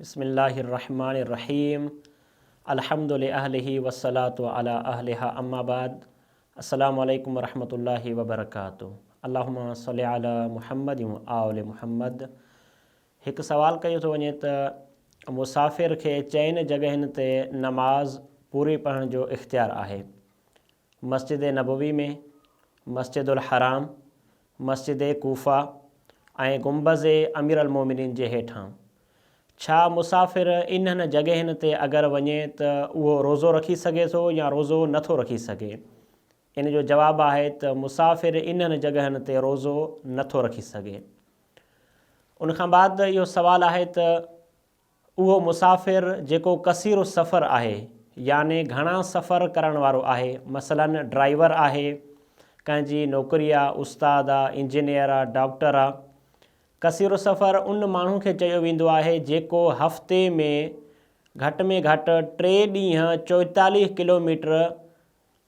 بسم الله الرحمٰن الرحيم الحمد لاهله والصلاة علي اهلها اما بعد السلام عليڪم ورحمة الله وبرڪاته اللهم صل علي محمد وآل محمد هڪ سوال ڪيو ٿو وڃي ته مسافر کي چئن جڳهين تي نماز پوري پڙهڻ جو اختيار آهي مسجد نبوي ۾، مسجد الحرام، مسجد ڪوفه ۽ گنبذ اميرالمومنين جي هيٺان. ڇا مسافر انهن جڳهين تي اگر وڃي ته اهو روزو رکي سگهي ٿو يا روزو نه ٿو رکي سگهي؟ ان جو جواب آهي ته مسافر انهن جڳهين تي روزو نه ٿو رکي سگهي. ان کان بعد اهو سوال آهي ته اهو مسافر جيڪو قصير السفر آهي يعني گهڻا سفر ڪرڻ وارو آهي مثلاً ڊرائيور آهي، ڪنهن جي نوڪري آ، استاد آ، انجنيئر آ، ڊاڪٽر آ. قصير السفر ان ماڻهو کي چيو ويندو آهي جيڪو هفتي ۾ گهٽ ۾ گهٽ ٽي ڏينهن چوئيتاليهه ڪلوميٽر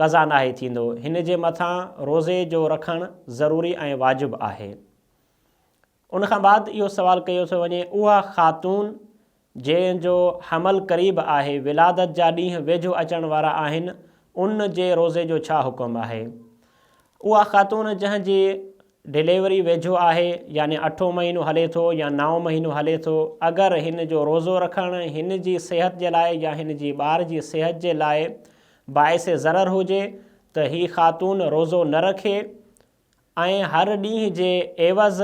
قضا ناهي ٿيندو، هن جي مٿان روزي جو رکڻ ضروري ۽ واجب آهي. ان کان بعد اهو سوال ڪيو ٿو وڃي اها خاتون جنهن جو حمل قريب آهي، ولادت جا ڏينهن ويجهو اچڻ وارا آهن، ان جي روزي جو ڇا حڪم آهي؟ اها خاتون جنهن جي ڊليوري ويجهو آهي يعني اٺون مهينو هلي ٿو يا نائون مهينو هلي ٿو اگر هن جو روزو رکڻ هن جي صحت جي لاء يا هن جي ٻار جي صحت جي لاء باعث ضرر هجي ته هي خاتون روزو نه رکي ۽ هر ڏينهن جي عيوض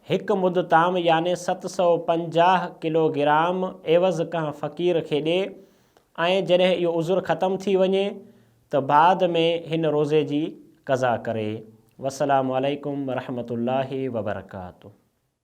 هڪ مد طعام يعني ست سؤ پنجاهه ڪلو گرام عيوض ڪنهن فقير کي ڏي ۽ جڏهن اهو عذر ختم ٿي وڃي ته بعد ۾ هن روزي جي قضا ڪري. والسلام عليڪم ورحمة الله وبرڪاته.